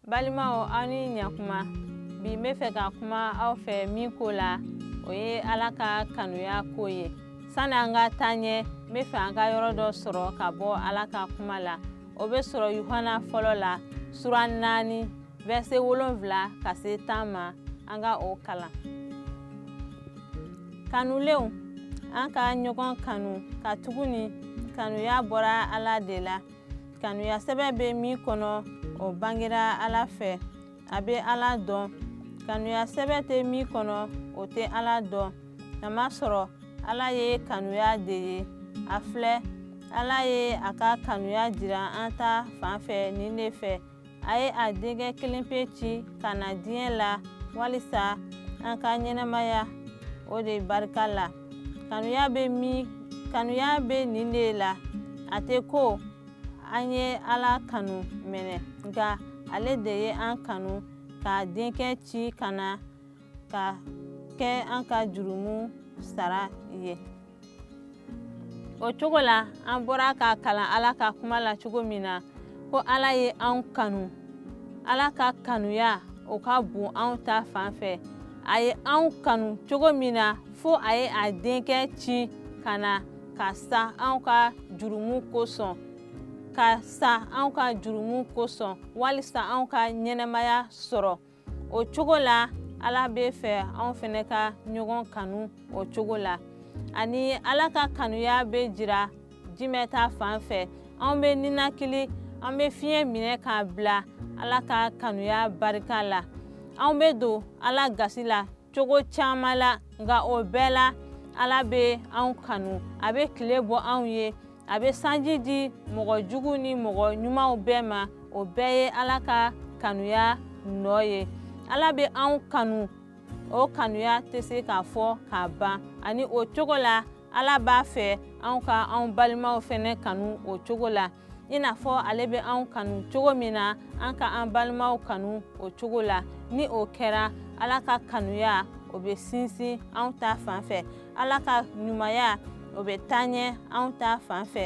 balimaw aw ni ɲakuma bi n bɛ fɛ ka kuma aw fɛ min ko la o ye ala ka kanuya ko ye sani an ka taa ɲɛ n bɛ fɛ an ka yɔrɔ dɔ sɔrɔ ka bɔ ala ka kuma la o bɛ sɔrɔ yuhana fɔlɔ la sura naani vɛrise wolonfila ka se tan ma an ka o kalan kanulenw an ka ɲɔgɔn kanu katuguni kanuya bɔra ala de la kanuya sɛbɛ bɛ min kɔnɔ o bangera ala fɛ a bɛ ala dɔn kanuya sɛbɛ tɛ min kɔnɔ o tɛ ala dɔn k'a masɔrɔ ala ye kanuya de ye a filɛ ala ye a ka kanuya jira an ta fan fɛ nin de fɛ a ye a denkɛ kelenpe ci ka na diɲɛ la walisa an ka ɲɛnamaya o de barika la kanuya bɛ min kanuya bɛ nin de la a tɛ ko an ye ala kanu minɛ nka ale de ye an kanu k'a denkɛ ci ka na ka kɛ an ka jurumu sara ye o cogo la an bɔra k'a kalan ala ka kuma la cogo min na ko ala ye anw kanu ala ka kanuya o ka bon anw ta fan fɛ a ye anw kanu cogo min na fo a ye a denkɛ ci ka na ka sa anw ka jurumu kosɔn ka sa anw ka jurumu kosɔn walisa anw ka ɲɛnamaya sɔrɔ o cogo la ala bɛ fɛ anw fɛnɛ ka ɲɔgɔn kanu o cogo la ani ala ka kanuya bɛ jira jumɛn ta fan fɛ anw bɛ ninakili an bɛ fiɲɛ minɛ k'a bila ala ka kanuya barika la anw bɛ don ala gasi la cogo caman la nka o bɛɛ la ala bɛ anw kanu a bɛ tile bɔ anw ye a bɛ sanji di mɔgɔ jugu ni mɔgɔ ɲumanw bɛɛ ma o bɛɛ ye ala ka kanuya nɔ ye ala bɛ anw kanu o kanuya tɛ se k'a fɔ k'a ban ani o cogo la ala b'a fɛ anw ka anw balimaw fɛnɛ kanu o cogo la i n'a fɔ ale bɛ anw kanu cogo min na an ka an balimaw kanu o cogo la ni o kɛra ala ka kanuya o bɛ sinsin anw ta fan fɛ ala ka ɲumanya o bɛ taa ɲɛ anw ta fan fɛ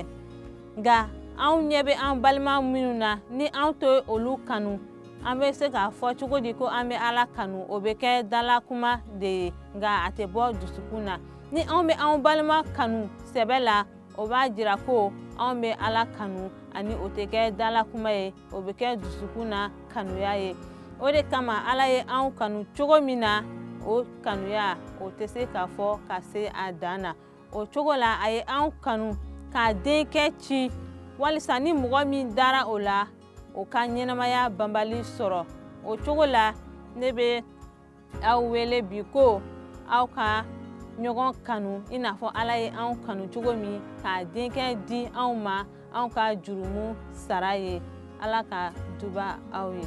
nka anw ɲɛ bɛ an balima minnu na ni anw tɛ olu kanu an bɛ se k'a fɔ cogo di ko an bɛ ala kanu o bɛ kɛ dala kuma de ye nka a tɛ bɔ dusukun na ni anw bɛ anw balima kanu sɛbɛ la o b'a jira ko anw bɛ ala kanu ani o tɛ kɛ dala kuma ye o bɛ kɛ dusukun na kanuya ye o de kama ala ye anw kanu cogo min na o kanuya o tɛ se k'a fɔ ka se a dan na o cogo la a ye anw kanu k'a denkɛ ci walisa ni mɔgɔ min dara o la o ka ɲɛnamaya banbali sɔrɔ o cogo la ne bɛ aw wele bi ko aw ka ɲɔgɔn kanu i n'a fɔ ala ye anw kanu cogo min k'a denkɛ di anw ma anw ka jurumu sara ye ala ka duba aw ye